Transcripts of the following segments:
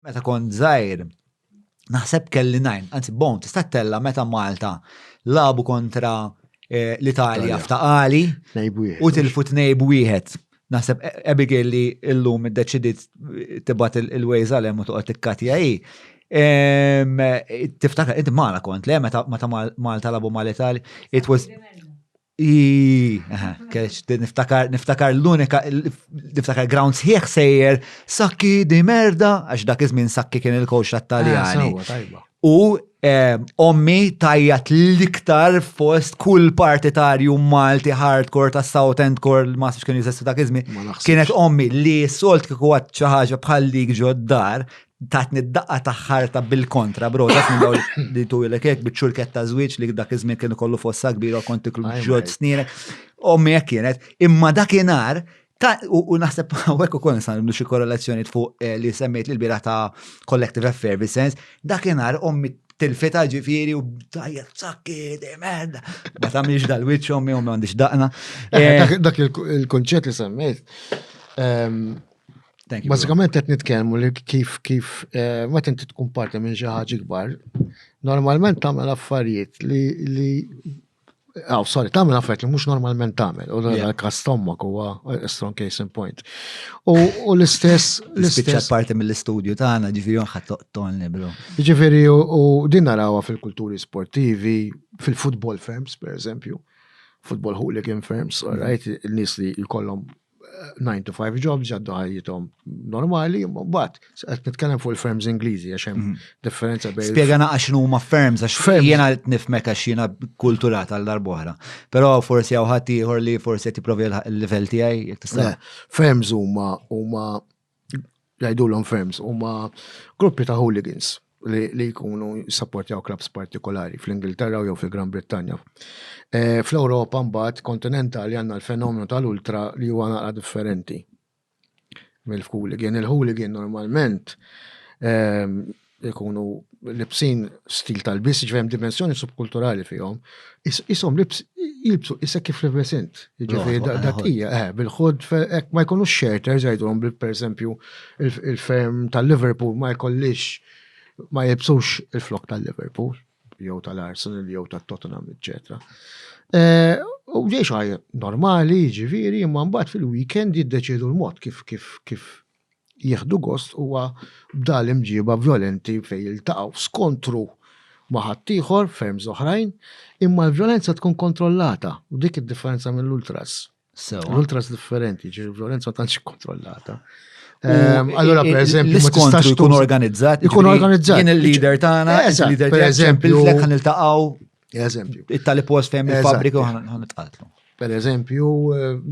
meta kont żgħir naħseb kelli najn, anzi bon, tista' tella meta Malta labu kontra eh, l-Italja f'taqali u tilfu tnejb wieħed. Naħseb e- Abigail li illum id-deċidit tibat il-ways għalem u toqgħod tikkatja hi. Tiftakar, id mala kont, le, meta Malta labu mal-Italja, it was Niftakar, niftakar l-unika, niftakar ground sħiħ sejjer, sakki di merda, għax dak iż-żmien sakki kien il-coach tat-Taljani. Ah, u ommi tajjat l-iktar fost kull partitarju Malti hardcore ta' South End Core ma sibx kien jizestu dak iżmi. Kienet ommi li solt kiku għat ċaħġa bħal dik ġoddar tatni d-daqqa ta' ħarta bil-kontra, bro, dak minn dawl li tu jilek jek bieċurket ta' zwiċ li dak iż-żmien kienu kollu fossa kbira kont iklu ġod snienek. Ommi jek kienet, imma dak inar, u naħseb għawek u kon san xie korrelazzjoni fuq eh, li semmejt li l-bira ta' Collective Effervescence, dak inar ommi tilfita ġifiri u tajja sakki, demed. Ma tamiex dal-witch ommi u ma għandix daqna. Eh, eh, dak il-konċet li semmejt, ehm, Basikament qed nitkellmu li kif kif eh, ma tinti tkun parti minn xi ħaġa kbar, normalment tagħmel affarijiet li li Aw, oh, sorry, tagħmel affarijiet li mhux normalment tagħmel, u l-kas tommak huwa eh, strong case in point. U l-istess. L-istess parti mill-istudju tagħna ġifieri ħadd toqtolni bro. Ġifieri u din narawha fil-kulturi sportivi, fil-football firms, per eżempju, football hooligan firms, all right, il-nies li jkollhom 9 to 5 jobs jaddu ħajjithom normali, mbagħad qed nitkellem fuq il-firms Ingliżi għax hemm mhm. differenza bejn. Spjega naqax x'nu huma firms għax jiena nifmek għax jiena kulturat għal darb'oħra. Però forsi hawn ħadd ieħor li forsi qed jipprovi l-livell tiegħi jekk tista'. Firms huma huma jgħidulhom firms huma gruppi ta' hooligans li jkunu jissappurtjaw klabs partikolari fl-Ingilterra jew fil-Gran Brittanja. Eh, Fl-Ewropa mbagħad kontinentali għandna l-fenomenu tal-ultra li huwa naqra differenti mill-hooligan. Il-hooligan normalment ehm, ikunu libsin stil tal-bis, ġvem dimensjoni subkulturali fihom, isom libs jilbsu issa kif libes int. Ġvem dak hija, eh, bil-ħod, ek ma jkunux shelters jgħidulhom bil per esempio il-ferm tal-Liverpool ma jkollix ma jibsux il-flok tal-Liverpool, jew tal-Arsenal, jew tal-Tottenham, eccetera. Eh, u ġiex normali, ġiviri, imma mbagħad fil-weekend jiddeċidu l-mod kif kif kif jieħdu gost huwa b'da' l-imġieba vjolenti fejn jiltaqgħu f'skontru ma' ħaddieħor, ferms oħrajn, imma l-vjolenza tkun kontrollata u dik id-differenza mill-ultras. Sewwa. L-ultras differenti, ġifieri l-vjolenza ma tantx ikkontrollata. Ehm, Allura pereżempju ma tistax L-iskontru jkun tuża- organizzat. Ikun jiġifieri organizzat. Jien il-leader tagħna, Eżatt, il-leader tiegħek pereżempju- ċemplilek ħan iltaqgħu. Eżempju. It-tali post fejn il-fabrika ħan itqatlu. Per eżempju,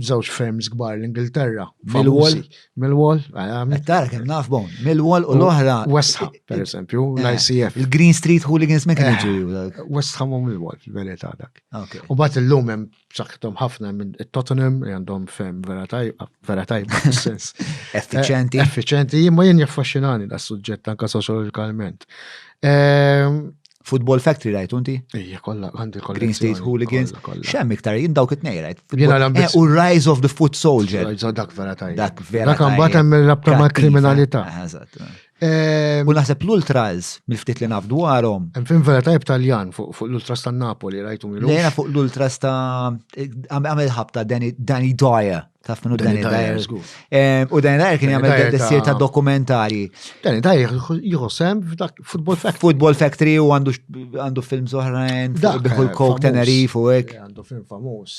żewġ eh, firms kbar l-Ingilterra. Millwall. Millwall. Eh, Tara kemm naf bon. Millwall u l-oħra. West Ham, per eżempju, eh, l-ICF. Il-Green Street Hooligans ma kienu ġeju. West Ham u Millwall, fil-verità dak. U bat il-lum hemm b'saħħithom ħafna minn Tottenham li għandhom fem vera tajba, vera tajba sens. Effiċenti. Eh, effiċenti, imma jien jaffaxxinani da suġġett anka soċjologikalment. Ehm, Football Factory rajt unti? Ija, kolla, għandi kolla. Green State Hooligans. Xem iktar, jien dawk it-nej rajt. Jena l eh, U Rise of the Foot Soldier. Dak vera tajba. Dak vera tajba. Dak għambat hemm il-rabta ma' kriminalità. Eh, Ehm, u naħseb l-ultras, mill-ftit li naf dwarhom. Hemm fin vera tajb Taljan fuq l-ultras ta' Napoli, rajtu minn. Lejna fuq l-ultras ta' għamel ħabta Danny Dyer. Taf minnu Danny Dyer. Ehm, u Danny Dyer kien jagħmel dessir ta' dokumentari. Danny Dyer jħossem Football Factory. Football Factory u għandu film zoħrajn, biħu l-Coke Tenerife u hekk. Għandu film famuż.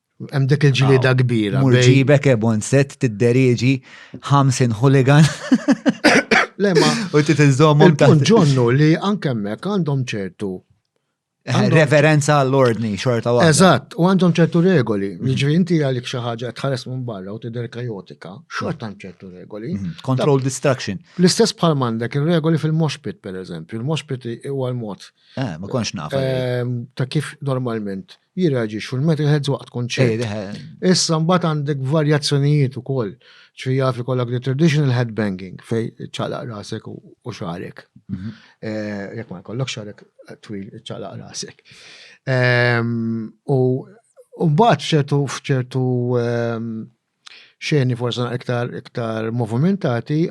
Hemm dik il-ġlieda kbira. Murġibek ebon set tidderieġi 50 hooligan. Lema. U titiżommhom ta' ġonnu li anke hemmhekk għandhom ċertu eh, reverenza għall-ordni xorta waħda. Eżatt, u għandhom ċertu regoli. Mhm. Ġifieri inti għalik xi ħaġa tħares minn barra u tidher kajotika, xorta għand ċertu regoli. Mhm. Control distraction. L-istess bħal m'għandek ir-regoli fil-moshpit pereżempju. Il-moshpit huwa l-mod. Eh, ma konx naf. Eh, ta' kif normalment jirreaġixxu l-metalheads waqt kunċert. Issa mbagħad għandek varjazzjonijiet ukoll. Ġifieri jaf ikollok the traditional headbanging fej ċalaq rasek u xarek. Mhm. Eh, jekk ma jkollok xarek twil ċalaq rasek. Ehm, u mbagħad f'ċertu f'ċertu ehm, xeni forse iktar iktar movimentati,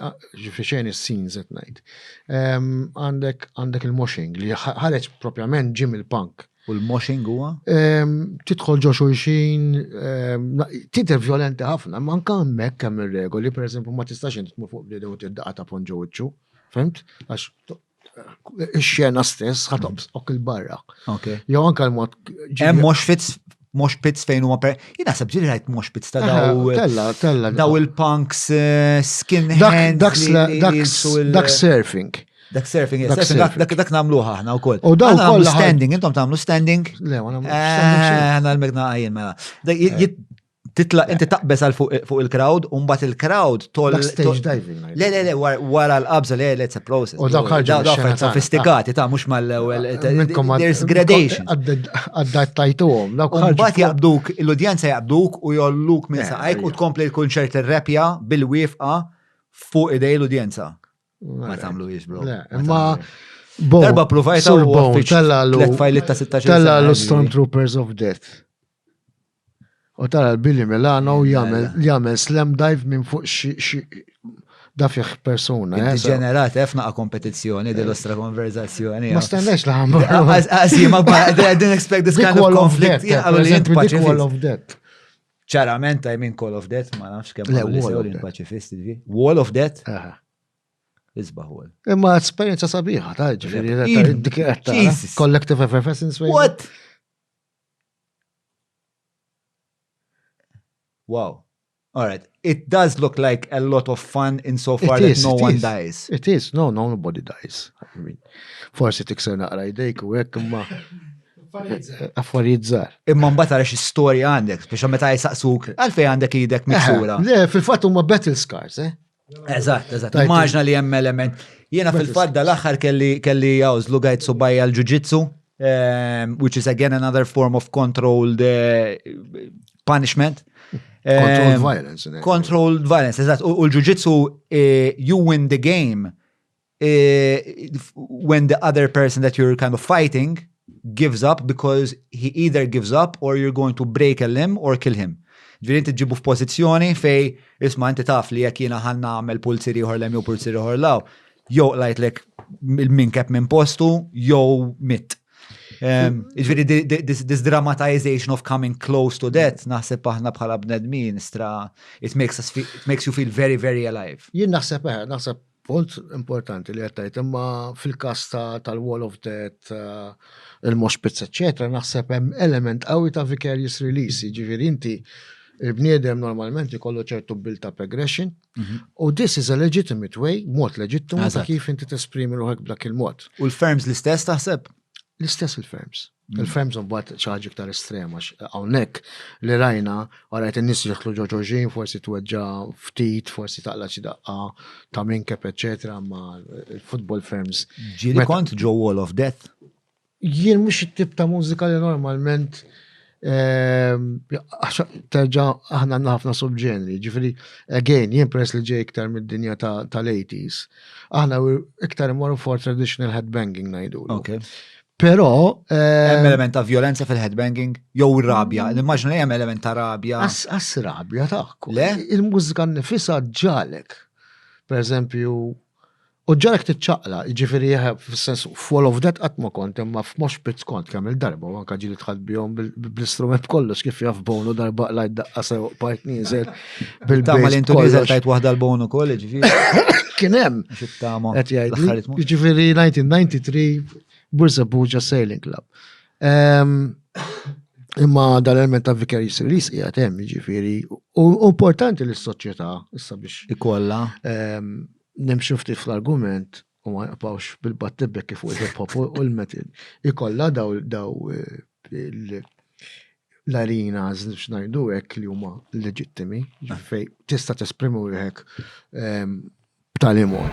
ġifri xeni s-scenes qed ngħid. Għandek għandek il-moshing li ħareġ propjament ġim il-punk. U l-moshing huwa? Tidħol ġo xulxin, tidher violenti ħafna, ma anke hemmhekk hemm ir-regoli, pereżempju ma tistax int tmur fuq bniedem u tiddaqa' ta' ponġo wiċċu, fimt? Għax ix-xena stess ħatobs ok il-barra. Okay. Jew anka l-mod. Hemm mhux fitz mhux pits fejn huma per. Jien naħseb ġiri rajt mhux pits ta' daw. Tella, tella. Daw il-punks eh, skin hand. Dak surfing. Dak surfing, dak namluħ aħna u koll. U daw koll. Standing, intom tamlu standing. Le, għana. Eh, għana l-megna għajin mela. Eh. titla inti taqbeż għal fuq il-crowd, un bat il-crowd tol. Stage diving. Le, le, le, wara l-qabza, le, le, it's a process. U dawk ħarġu. Sofistikati, ta' mux mal-ewel. There's gradation. Għaddajt tajtu għom. Un bat jaqbduk, l-udjenza jaqbduk u jolluk minn saqajk u tkompli l-kunċert il-repja bil-wifqa fuq idej l-udjenza. Ma tamlu jizbro. Ma Darba provajta u għaffiċ. Tella l-Stormtroopers of Death. U tara l-Billy Milano jagħmel jagħmel slam dive minn fuq xi dafih persuna. Eh, Ġenerat, eh, f'naqa kompetizzjoni dil-ostra konverzazzjoni. Ma eh. stennex li ħamma. Għazima, I didn't expect this kind of conflict. Call of death. Ċarament, I mean Call of Death, ma nafx kemm l pacifisti di. Wall of Death. Isbaħ għol. Imma esperienza sabiħa, ta' ġifiri, dik Collective Effervescence. What? Wow. All right. It does look like a lot of fun in so far that no one dies. It is. No, no, nobody dies. I mean, forsi tikser naqra idejk u hekk imma affarijiet Imma mbagħad għax storja għandek biex meta jsaqsuk għalfejn għandek idek miksura. Le, fil-fatt huma battle scars, eh? Eżatt, eżatt. Immaġna li hemm element. Jiena fil-fatt dal-aħħar kelli kelli għawż lugajt subajja l-ġuġitsu, ehm, which is again another form of controlled eh, punishment. Controlled ehm, violence. Controlled violence, eżatt. U l-ġuġitsu eh, you win the game eh, when the other person that you're kind of fighting gives up because he either gives up or you're going to break a limb or kill him. Ġviri inti ġibu f'pożizzjoni fej isma inti taf li jekk jiena ħanna għamel pulziri ieħor lem jew pulziri ieħor law, jew lajtlek minn kep minn postu jew mit. Ehm, ġviri this dramatization of coming close to death naħseb aħna bħala bnedmin stra it makes us feel, it makes you feel very very alive. Jien naħseb eh, naħseb Punt importanti li għattajt, imma fil-kas tal-Wall of Death, eh, il-Moshpits, etc., naħseb hemm element qawwi ta' vicarious release, ġifiri inti il-bniedem normalment ikollu ċertu bil ta' progression, mhm. u this is a legitimate way, mod leġittimu ta' kif inti tesprimi ruħek b'dak il-mod. U l-firms l-istess taħseb? L-istess il-ferms. Mm. Il-ferms mbagħad xi ħaġa iktar estrema hawnhekk li rajna għarajt in-nies jidħlu ġo ġoġin, forsi tweġġa ftit, forsi taqla xi daqqa ta' minkep eċetera ma il-football ferms. Ġieli kont ġo Wall of Death? Jien mhux it-tip ta' mużika li normalment Terġa aħna għandna ħafna subġenri, ġifiri, again, jien press li ġej iktar mid-dinja tal-80s, aħna iktar imorru for traditional headbanging najdu. Okay. Pero. Hemm eh, element ta' violenza fil-headbanging, jew rabja, mm. l-immaġna li hemm element ta' rabja. As rabja ta' Le? Il-mużika nifisa ġalek. Per eżempju, U ġarek tiċċaqla, jiġifieri fis-sens full of that qatt ma kont imma f'mosh pits kont kemm il-darba u anke ġieli dħalt bihom bl-istrument b'kollox kif jaf Bono darba qlajt daqqa sew bqajt nieżel bil Tama li intu nieżel tajt waħda l-Bono ukoll jiġifieri. Kien hemm. Qed jgħid. Jiġifieri 1993 Bursa Buġa Sailing Club. Imma dal-element ta' Vicarious Release hija hemm jiġifieri u importanti li s-soċjetà issa biex ikollha Nimxu ftit fl-argument u ma nqbawx bil-battibekki fuq il-hip hop u l-metal. Ikolla daw l-arena biex ngħidu hekk li huma leġittimi fej tista' tesprimi wieħek ehm, b'tali mod.